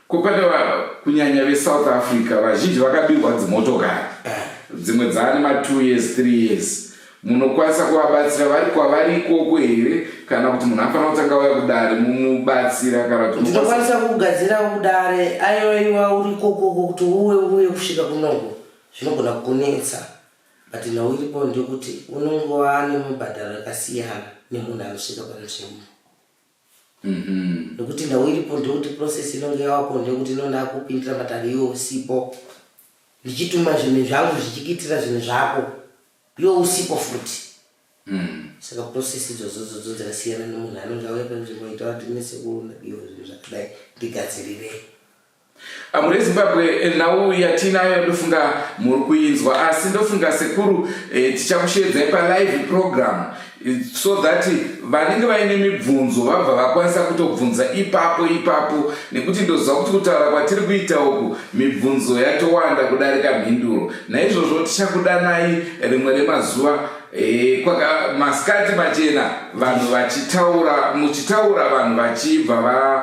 Speaker 2: kupanda vanhu kunyanya vesouth africa vazhinji vakabirwa dzimotokari eh. dzimwe dzaane ma two years three years Munokwanisa kuvabatsira vari kwavari ikoko here kana kuti munhu afanira kutanga vaya kudare mumubatsira kana kuti ndinokwanisa kugadzira
Speaker 3: kudare ayoiwa uri ikokoko kuti uwe uye kusvika kunongo zvinogona kunetsa but nhau iripo ndekuti unongova nemubhadharo yakasiyana nemunhu anosvika panzvimbo Mhm. nekuti nhau iripo ndekuti process inonge yawako ndekuti inonda kupindira matare iwe usipo ndichituma zvinhu zvangu zvichikitira zvinhu zvako iwe usipo futi Mm. saka process idzodzo dzodzo dzakasiyana nemunhu anonge auya panzvimbo aita kuti mese kuona iwe zvinhu zvakadai ndigadzirirei
Speaker 2: Ah, mhuri yezimbabwe eh, nhau yatiinayo ndofunga muri kuinzwa asi ndofunga sekuru eh, tichakusheedzai palive program eh, so that vanenge vaine mibvunzo vabva vakwanisa kutobvunza ipapo ipapo nekuti ndoziva kuti kutaura kwatiri kuita uku mibvunzo yatowanda kudarika mhinduro naizvozvo tichakudanai rimwe remazuva Eh, kwaka masikati machena vanhu vachitaura muchitaura vanhu vachibva va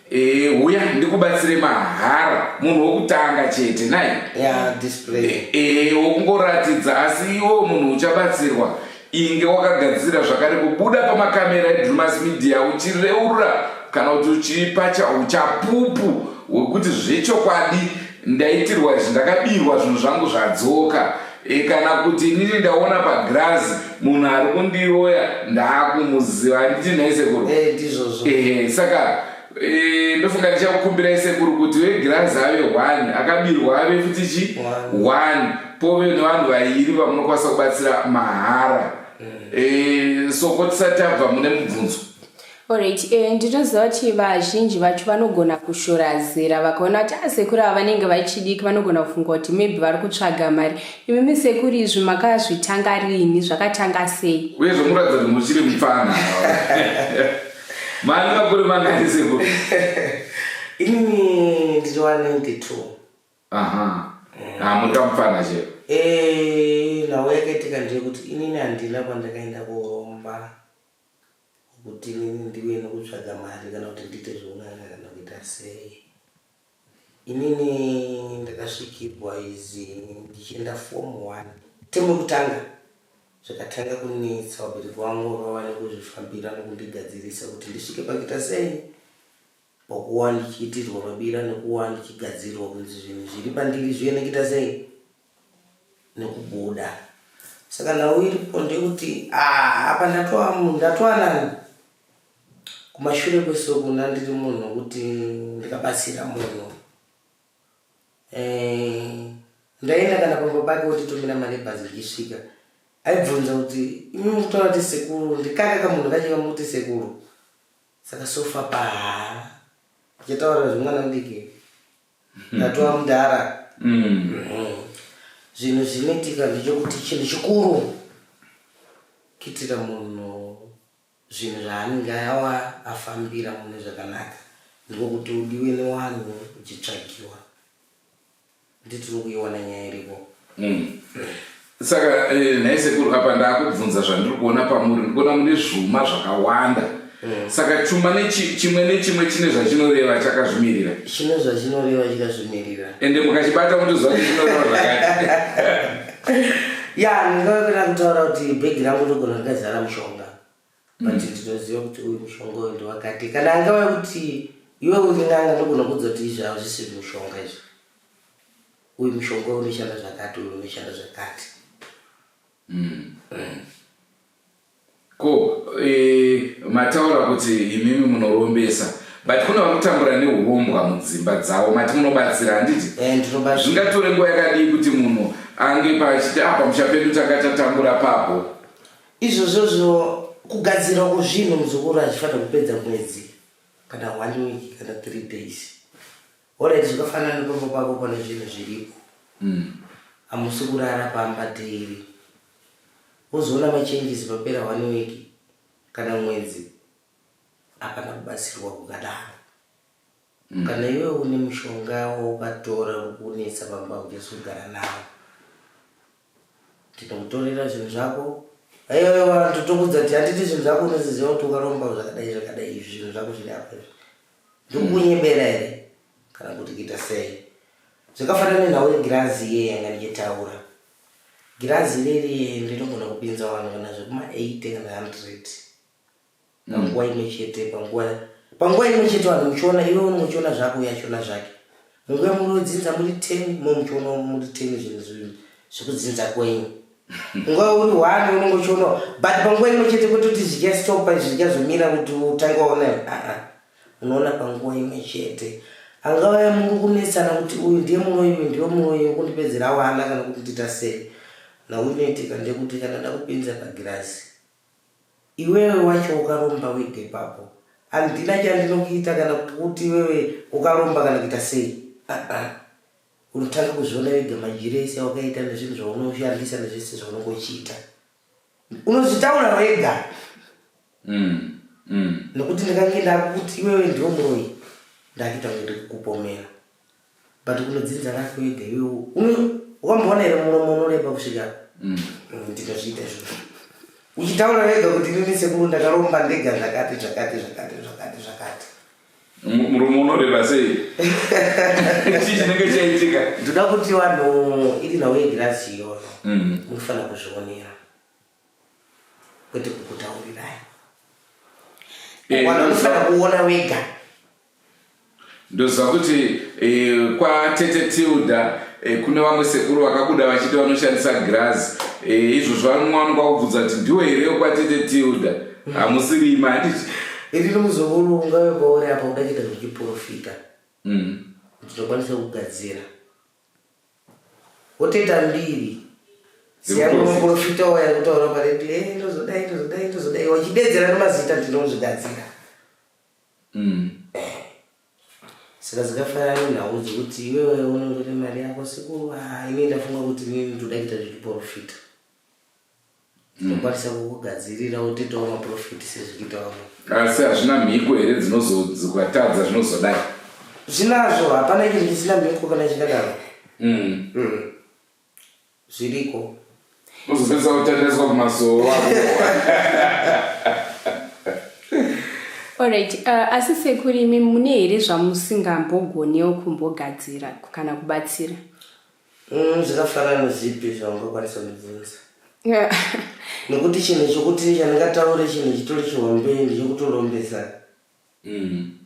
Speaker 2: Eh, huya ndikubatsire mahara munhu wokutanga chete nai ya display
Speaker 3: Eh, eh, wokungoratidza
Speaker 2: asi iwo munhu uchabatsirwa inge wakagadzira zvakare kubuda pamakamera edrumas media uchireurura kana kuti uchipa cha- uchapupu hwekuti zvechokwadi ndaitirwa izvi ndakabirwa zvinhu zvangu zvadzoka e, kana kuti inini ndaona pagirazi munhu ari kundiroya ndaakumuziva anditi nhai sekuru eh, ndizvozvo ehe saka e, ndofunga ndichakukumbirai sekuru kuti vegirazi ave one akabirwa ave futi chi one pove nevanhu vairi vamunokwanisa kubatsira mahara mm. e, soko tisati tabva mune mubvunzo Alright,
Speaker 4: eh, ndinoziva kuti vazhinji vacho vanogona kushora zera vakaona kuti asekuru ah, ava vanenge vachidiki vanogona kufunga kuti maybe vari kutsvaga mari imimi sekuru izvi makazvitanga rini zvakatanga sei uye zvomuratidza kuti muchiri
Speaker 2: mupfana mani makore mangani sekuru inini
Speaker 3: ndiri wa 92 aha ah,
Speaker 2: muka mupfana chero eh,
Speaker 3: nhau yakaitika ndeyekuti inini handina kwandakaenda kuhomba Kuti inini ndiuye nekutsvaga mari kana kuti ndiite zveun'anga kana kuita sei? Inini ndakasvikirwa izi ndichienda form one temu yekutanga zvakatanga kunetsa vabereki vangu vavane kuzvifambira nekundigadzirisa kuti ndisvike pakuita sei Pakuva ndichiitirwa mabira nekuva ndichigadzirirwa kunzi zvinhu zviri pandiri zviye nekuita sei nekubuda saka nhau iripo ndeyekuti ah, apa ndatova munhu ndatova nani kumashure kwesokuna ndiri munhu wekuti ndikabatsira munhu eh, ndaenda kana pamba pake wotitumira mari ebhazi ndichisvika aibvunza kuti imi mutaura kuti sekuru ndikaka kamunhu kachiva muti sekuru Saka so far pa tichataura zvemwana mudiki ndatova mudhara zvinhu zvinoitika ndechokuti chinhu chikuru kuitira munhu zvinhu zvaanenge awa afambira mune zvakanaka ndiko kuti udiwe newanhu uchitsvagiwa Ndi tiri kuiona nyaya iripo. Mm. Saka
Speaker 2: eh, nhai sekuru apa ndakubvunza zvandiri kuona pamuri ndikuona mune zvuma zvakawanda. Mm. Saka chuma nechi, chimwe nechimwe chine zvachinoreva chakazvimirira. Chine zvachinoreva
Speaker 3: chikazvimirira. Ende mukachibata
Speaker 2: mutoziva kuti chinoreva zvakati. ya
Speaker 3: ndingavakira kutaura kuti bhegi rangu ndogona rikazara mushonga but mm. tinoziva kuti uyu mushonga uyu ndewakati kana angava kuti iwe uri n'anga ndogona kudza kuti izvi hazvisi mushonga izvi uyu mushonga uyu unoshanda zvakati uyu unoshanda zvakati mm. mm.
Speaker 2: ko e, mataura kuti imimi munorombesa but kune vakutambura neurombwa mudzimba dzavo mati munobatsira handiti eh, zvingatore nguva yakadii kuti munhu ange pachiti apa ah, muchapedu tanga tatambura papo Izvozvozvo
Speaker 3: kugadzirwa kwezvinhu muzukuru hazvifanira kupedza mwedzi kana one week kana three days. Alright, zvakafanana nepamba pako pane zvinhu zviripo mm. hamusi kurara pamba daily wozoona machanges papera one week kana mwedzi hapana kubatsirwa kukadaro Kana iwe une mushonga waukatora uri kunetsa pamba uchazogara nawo. Tinokutorera zvinhu zvako. Aiwa vanhu tokudza ti handiti zvinhu zvako unoziziva kuti ukaromba zvakadai zvakadai izvi zvinhu zvako zviri apa izvi. Ndiri kukunyebera here kana kuti kuita sei? Zvakafanana nenhau yegirazi iye yanga ndichitaura. Girazi iriri rinogona kupinza vanhu kana zvekuma 80 kana 100. panguva imwe chete panguva panguva imwe chete vanhu muchiona iwe uno muchiona zvako uye achiona zvake munguva munodzinza muri ten mo muchiona muri ten zvinhu zvinhu zvekudzinza kwenyu nguva uri one unonge uchiona but panguva imwe chete kuti kuti zvichastopa zvichazomira kuti utange waona aa unoona panguva imwe chete angava muri kunetsana kuti uyu ndiye muroyi uyu ndiwe muroyi ukundipedzera wana kana kuti ndita sei na unoitika ndekuti kana da kupinza pagirazi Iwewe wacho ukaromba wega ipapo handina chandinokuita kana kuti iwewe ukaromba kana kuita sei aa unotanga kuzviona wega madyiro ese awakaita nezvinhu zvaunoshandisa nezvese zvaunenge uchiita unozvitaura wega mm, mm. nokuti ndikange ndakuti iwewe ndiwo muroyi ndakuita kunge ndikukupomera but unodzinza rako ega iwewe wamboona here muromo unoreba kusvika mm. ndikazviita zvoo uchitaura wega kuti inini sekuru ndakaromba ndega zvakati zvakati zvakati zvakati zvakati
Speaker 2: muromo unoreba sei chii chinenge chaitika ndoda kuti vanhu
Speaker 3: iri nhau yegirasi iyoyo mm. munofanira kuzvionera kwete kukutaurirai eh, wana unofanira kuona wega ndoziva
Speaker 2: kuti eh, kwatete tilda eh, kune vamwe sekuru vakabuda vachiti vanoshandisa girazi izvozvo vanowanikwa kubvunza kuti ndiwo here kwatete tilda mm. hamusirima handiti iri nomuzukuru
Speaker 3: ungave kwauri apa udachiita zvechiprofita mm. ndinokwanisa kugadzira wotoita mbiri siyamuprofita waya kutaura paredio e ndozodai ndozodai ndozodai wachidedzera nemazita ndinozvigadzira mm. saka dzikafanana nenhau dzekuti iwewe unondore mari yako siku ah, ini ndafunga kuti ini ndoda kuita zvechiprofita tinokwanisa kukugadzirira wotoitawo maprofiti sezvikuita vamwe asi hazvina mhiko
Speaker 2: here dzinozokatadza zvinozodai zvinazvo
Speaker 3: hapana chinhu chisina mhiko kana chikadaro mm. mm. zviriko uzopedza
Speaker 2: kutendeswa kumasoo
Speaker 4: orit uh, asi sekurimi mune here zvamusingambogonewo kumbogadzira kana kubatsira Mm,
Speaker 3: zvakafanana nezvipi zvaungakwanisa kundibvunza nekuti chinhu chokuti chandingataure chinhu chitori chihombe ndichikutolombesa mm.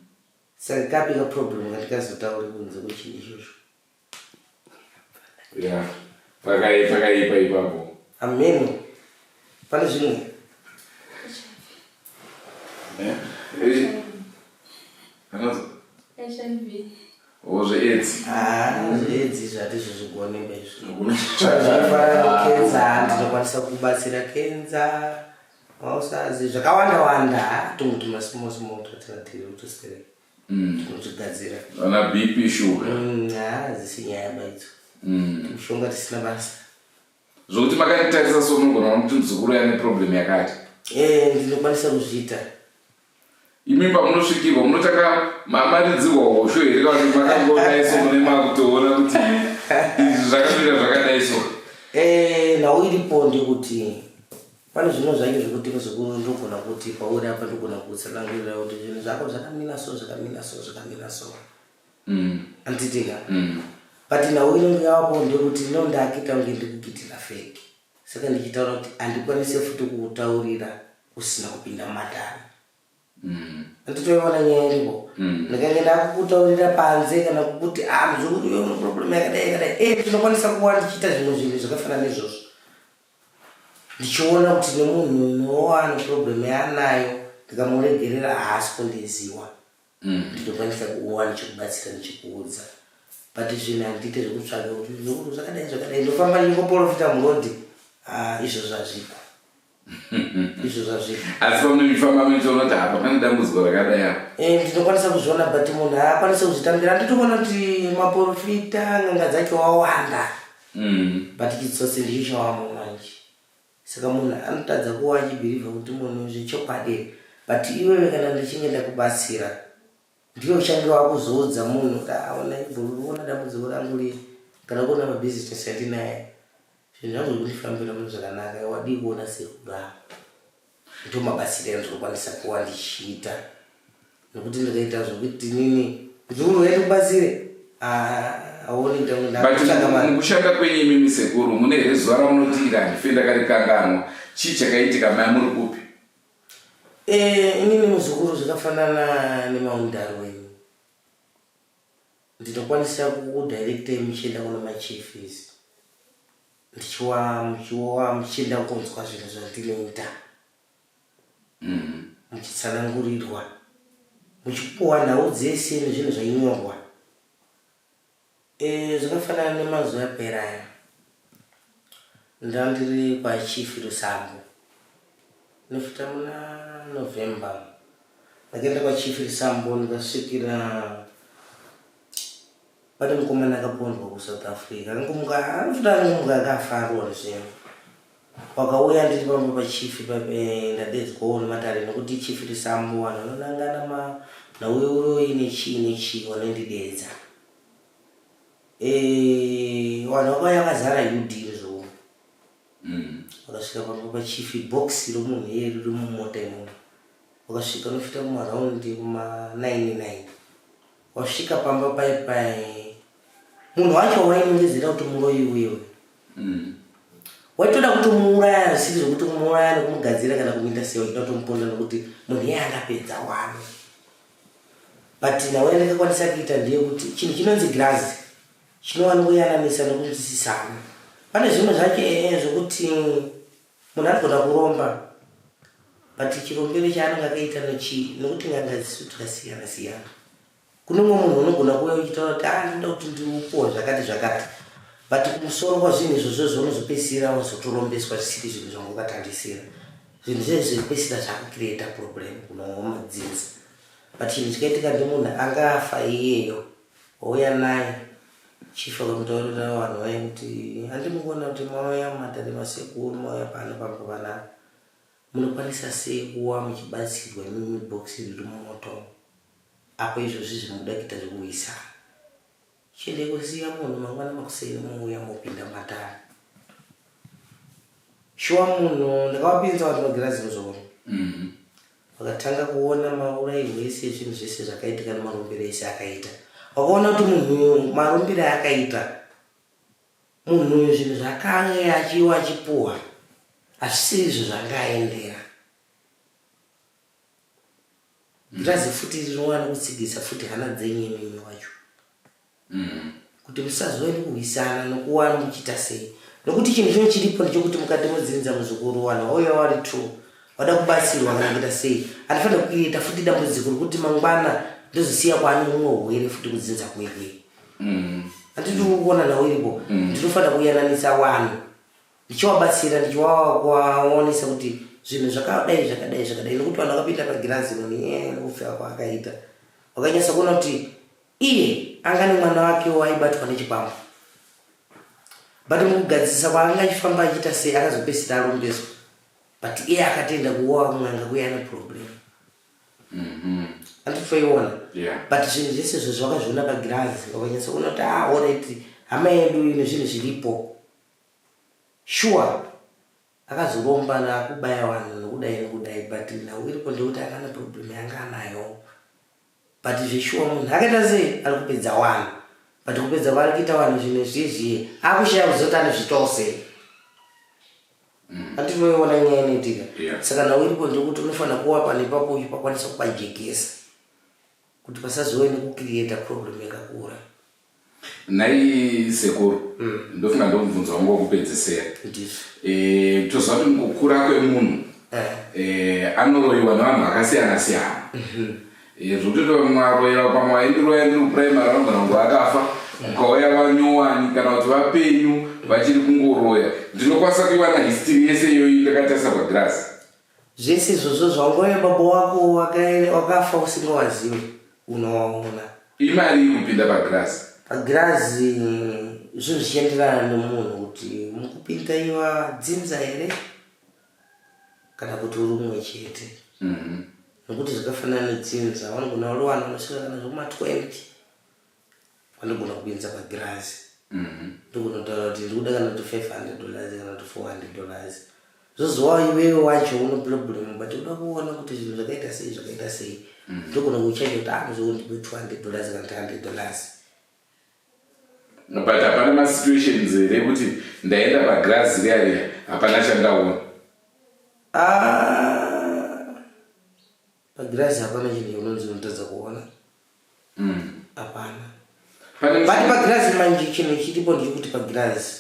Speaker 3: saka kapi kaproblem kandikazotaure kunze kwechinhu ichozvo
Speaker 2: ya pakaipa ipapo ameno
Speaker 3: pane zvimwe eh? eh?
Speaker 1: Oh, zveedzi.
Speaker 2: Ah, zveedzi
Speaker 3: zvati zvizvigoneba izvi. Zvakafanana nekenza hanti tinokwanisa kubatsira kenza. Mausazi zvakawanda wanda tongo tuma small small twatinatiri utosere. Mm. Tinozvigadzira. Ana BP
Speaker 2: sugar. Mm, ah, dzisinyaya
Speaker 3: baidzo. Mm. Mushonga tisina basa. zvokuti
Speaker 2: makanditarisa so munogona kuona kuti muzukuru yane problem yakati ee ndinokwanisa
Speaker 3: kuzviita
Speaker 2: imi pamunosvikirwa munotanga maridzirwa hosho here kana kuti makangoonai so mune makutoona kuti izvi zvakamira zvakadai so ee nhau
Speaker 3: iripo ndekuti pane zvino zvacho zvekuti muzukuru ndogona kuti pauri apa ndogona kutsanangurira kuti zvinhu zvako zvakamira so zvakamira so zvakamira so mm. anditika mm. but nhau inonge yavapo ndekuti no ndakita kunge ndikukitira feki saka ndichitaura kuti andikwanise futi kukutaurira usina kupinda mumatare mm. anditoiona nyaya iripo mm. ndikange ndakukutaurira panze kana kuti amzvekuiwemuproblem ah, yakadai yakadai e eh, tinokwanisa kuva ndichiita zvimwe zvinhu zvakafanana izvozvo ndichiona kuti nemunhu unowa neproblem yaanayo ndikamuregerera haasi kundiziwa ndinokwanisa kuwa ndichikubatsira ndichikuudza but zvinhu handiite zvekutsvaga kuti zvakadai zvakadai ndofamba ndingoporofita murodi ah, izvo zvazviko izvo zvazviko
Speaker 2: asi pamunoifamba muchiona kuti hapa pane dambudziko rakadai apa eh, ndinokwanisa kuzviona
Speaker 3: but munhu haakwanise kuzvitambira anditoona kuti maporofita n'anga dzacho wawanda mm. but kitsotsi ndicho chawamo manje Saka munhu anotadza kuva achibhirivha kuti munhu zvechokwadi here? But iwewe kana ndichinge ndakubatsira ndiwe uchange wakuzoudza munhu kuti aona ibvovona dambudziko rangu riye kana kuona mabusiness atinaye zvinhu zvangu zvikundifambira mune zvakanaka wadii kuona sekuru avo ndomabatsira andinokwanisa kuva ndichiita nokuti ndakaita zvokuti nini kuti unouya ndikubatsire mukushanda
Speaker 2: kwenyu imi misekuru mune here zuva ramunotiira handife ndakarikanganwa chii chakaitika maya muri kupi eh,
Speaker 3: inini muzukuru zvakafanana nemaundari wenyu ndinokwanisa kudirectei muchienda kuno machifis ndichiwa muchiwa muchienda kunzwa zvinhu zvandinoita muchitsanangurirwa, muchipuwa nhau dzese nezvinhu zvainyorwa. Eh, zvakafanana nemazuva apera aya ndandiri kwachief Rusambo nofita muna November ndakaenda kwachief Rusambo ndikasvikira pane mukomana akapondwa kusouth africa angomuka anofita angomuka akafarwa zvinhu Wakauya ndiri pamwe pa chief eh, ndadedzwawo nematare nekuti chief risambo vanhu vanonangana ma nauye uroyi nechii nechii wanondidedza eh, vanhu vakauya vakazara udiri zvo mm. wakasvika pamwe pa chief box romunhu iye riri mumota imomo wakasvika unofita kumaraundi kuma 99 Wasvika pamba pai pai. Munhu wacho wainongezera kuti muroyi uyewe. Mm. Waitoda kutomuuraya zvisiri zvekuti kumuuraya nekumugadzira kana kumuita sei wachida kutomuponda nekuti munhu iye angapedza wani. But nawe ndakakwanisa kuita ndiye kuti chinhu chinonzi girazi chinowanongoyananisa nokunzwisisana. Pane zvimwe zvacho ee zvokuti Munhu anogona kuromba but chirombero chaanenge akaita nochii nokuti n'anga dzisu tikasiyana siyana. Kune umwe munhu unogona kuuya uchitaura kuti ah ndoda kuti ndiupuwa zvakati zvakati but kumusoro kwazvinhu izvozvo zvaunozopedzisira wazotorombeswa zvisiri zvinhu zvanga ukatarisira. Zvinhu zvinhu zvekupedzisira zvakukireta problem kuno madzinza but chinhu chikaitika ndomunhu anga afa iyeyo. Houya naye chief akamutaurira vanhu vaye kuti handi mukuona kuti mauya mumatare masekuru mauya pano pamuvana munokwanisa sei kuwa muchibatsirwa imimi bhokisi riri mumoto apo izvozvi zvimuda kuita zvekuhwisana chiende kusiya munhu mangwana makuseni muuya mopinda matare shuwa munhu ndakavapinza vatinogera zino zvokuno mm-hmm. Wakatanga kuona maurayirwo ese ezvinhu zvese zvakaitika nemarumbiro ese akaita. Wakaona kuti munhu uyu marumbiro akaita munhu uyu zvinhu zvakange achiwa achipuhwa hazvisiri izvo zvanga aendera. Ndirazi futi rinowana kutsigisa futi hana dzenyu imimi wacho. kuti musazove nekuhwisana nokuwa muchiita sei nokuti chinhu chino chiripo ndechokuti mukati mudzinza muzukuru wanhu wauya wari true wada kubatsirwa kana kuita sei anofanira kuita futi dambudziko rokuti mangwana ndozosiya kwaane mumwe hwere futi kudzinza kwekwe mm. andidi kuona nhau iripo mm. ndinofanira kuyananisa wanhu ndichiwabatsira ndichiwaonesa kuti zvinhu zvakadai zvakadai zvakadai nokuti vanhu vakapinda pagirazi noni eh, nokufika kwaakaita wakanyasa kuona kuti Iye anga nemwana wakewo aibatwa nechikwambo but mukugadzirisa kwaanga achifamba achiita sei akazopesira arumbeswa but iye akatoenda kuoa kun'anga kuya ane problem mm-hmm. anditoiona but zvinhu zvese zvo zvakazviona pagirazi wakanyatsa kuona kuti aoreti ah, hama yedu ine zvinhu zviripo sure akazoromba nakubaya vanhu nokudai nokudai but nhau iripo ndekuti akana problem yanga anayo But zveshuwa munhu akaita sei ari kupedza wanhu but kupedza kwaari kuita wanhu zvimwe zvizvie akushaya kuzoti anozviitawo sei ati unoiona nyaya inoitika Yeah. saka nhau iripo ndekuti unofanira kuwa pane ipapo uchipakwanisa kupajekesa kuti pasazove nekukiriyeta problem yakakura Nhai
Speaker 2: sekuru mm. ndofunga ndomubvunzo wangu wokupedzesera e, toziva kuti mukukura kwemunhu eh. e, anoroyiwa nevanhu vakasiyana siyana mhm. e, zvokuti mwaroyewa pamwe waindiroya ndiri kupuraimari anogona kunge akafa ukauya mm. vanyowani kana kuti vapenyu vachiri kungoroya ndinokwanisa kuiwana histiri yese iyoyi ndakatarisa pagirasi Zvese
Speaker 3: izvozvo zvaunouya baba wako wakafa usingawaziwe unowaona. Imari iri kupinda pagirazi.
Speaker 2: Pagirazi
Speaker 3: zvinhu zvichienderana nemunhu kuti mukupinda iva dzinza here kana kuti uri umwe chete. Mhm. Nokuti zvakafanana nedzinza vanogona uri vanhu vanosvika kana zvekuma 20. Vanogona kukuendesa pagirazi mhm. ndokunotaura kuti ndiri kuda kana kuti 500 dollars kana kuti 400 dollars zvozowa iwewe wacho uno problem but uda kuona kuti zvinhu zvakaita sei zvakaita sei mhm. ndogona kuchaita kuti anozoondipe 200 dollars kana 300 dollars
Speaker 2: but hapana masituations here kuti ndaenda pagirazi riariya hapana chandaona ah.
Speaker 3: pagirazi hapana chinhu chaunonzi unotadza kuona mm. hapana bati pagirazi manje chinhu chiripo ndechekuti pagirazi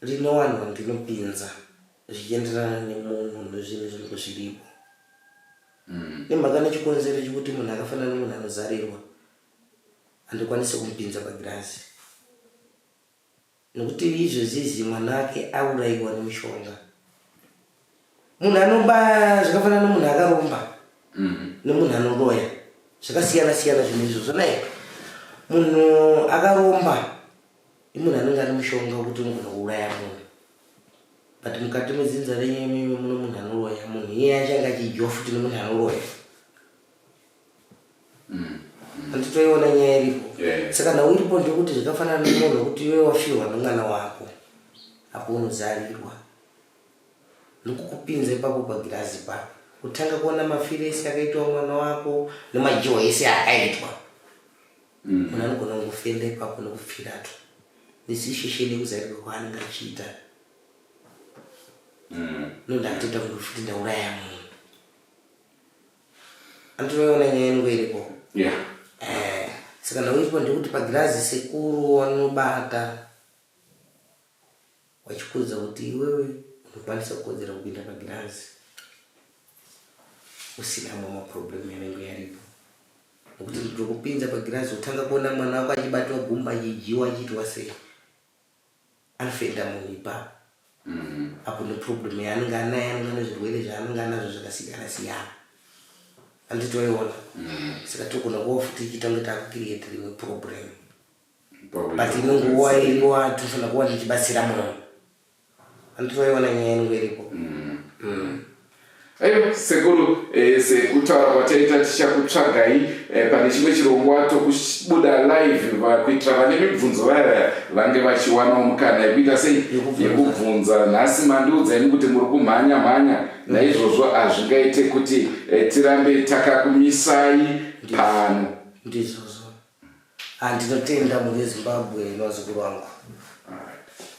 Speaker 3: rine vanhu vandinopinza zvichienderana nemunhu nezvinhu zvinenge zviripo mm. nemhaka nechikonzero chekuti munhu akafanana nemunhu anozarirwa handikwanise kumupinza pagirazi Nokuti izvezvizi mwana ake auraiwa nemushonga. Munhu anoba zvakafanana nomunhu akaromba mm-hmm. nomunhu anoroya zvakasiyana siyana zvinhu izvozvo nai munhu akaromba imunhu anenge ane mushonga wekuti unogona kuuraya munhu but mukati medzinza renyu imimi muno munhu anoroya munhu iye achange achidyiwa futi nomunhu anoroya handitoiona mm. nyaya iripo saka nhau iripo ndekuti zvakafanana nemunhu wekuti iwe wafirwa nemwana wako apo unozarirwa ndokukupinza ipapo pagirazi pa kutanga kuona mafiro ese akaitwa mwana wako nemajiwa ese akaitwa mm. munhu anogona kungofenda ipapo nekupfiratu nesisheshe nekuzarirwa kwaanenge achiita mm. nondakatoita kundofuti ndauraya munhu Andimeona nyaya yangu iripo. Yeah. Eh, saka ndauitwa ndikuti pagirazi sekuru wanobata wachikuudza kuti iwewe unokwanisa kukodzera kupinda pagirazi usina mama problem yanenge yaripo nokuti ndokupinza pagirazi utanga kuona mwana wako achibatiwa gumba achidyiwa achiitwa sei anofenda munhu ipapo apo neproblem yaanenge anaye anenge ane zvirwere zvaanenge anazvo zvakasiyana siyana andi toiona saka togona kuva futi ichiita kunge takukiriyeta rimwe problem but imwe nguva iriwa tofanira kuva tichibatsira munhu andinoiona nyaya yangu iripo mm. mm. Ayo
Speaker 2: sekuru eh, sekutaura kwataita tichakutsvagai eh, pane chimwe chirongwa tokubuda live kuitira vane mibvunzo vaya vange vachiwanawo mukana yekuita sei yekubvunza nhasi mandiudza ini kuti muri kumhanya mhanya naizvozvo hazvingaite kuti eh, tirambe takakumisai pano ndizvozvo
Speaker 3: Ah, ndinotenda mhuri yezimbabwe nevazukuru vangu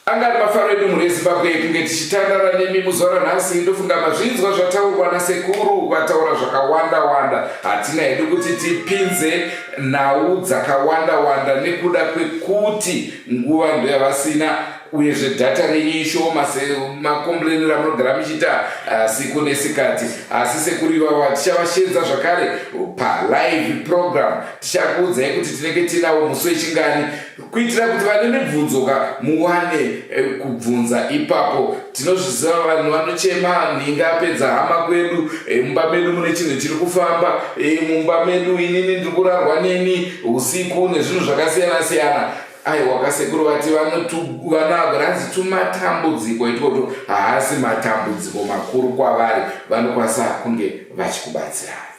Speaker 2: anga ari mafaro edu mhuri yezimbabwe kunge tichitandara nemi muzuva ranhasi ndofunga mazvinzwa zvataurwa nasekuru vataura zvakawanda wanda hatina hedu kuti tipinze nhau dzakawanda wanda nekuda kwekuti nguva ndoyavasina uyezve dhata renyu ishoma semakombuleni ramunogara muchiita ah, siku nesikati asi sekuru ivava tichavashenza zvakare palive program tichakuudzai kuti tinenge tinawo musi wechingani kuitira kuti vane mibvunzoka muwane eh, kubvunza ipapo tinozviziva vanhu vanochema nhinga apedza hama kwedu eh, mumba medu mune chinhu chiri kufamba eh, mumba medu inini ndiri kurarwa neni usiku nezvinhu zvakasiyana siyana aiwa kasekuru vati vanagranzi tumatambudziko itwoto haasi matambudziko makuru kwavari vanokwanisa kunge vachikubatsirai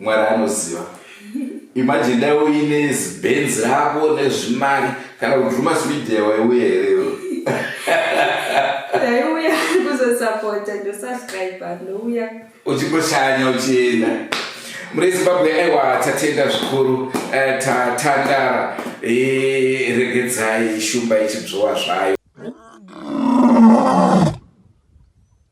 Speaker 2: mwari anoziva imagine dai uine zibenzi rako nezvimari kana kuti rumas media waiuya here iwe ndaiuya
Speaker 1: kuzosapota ndosubscribe ndouya uchingoshanya
Speaker 2: uchienda muri zimbabwe aiwa tatenda zvikuru eh, tatandara eh, regedzai shumba ichibzowa zvayo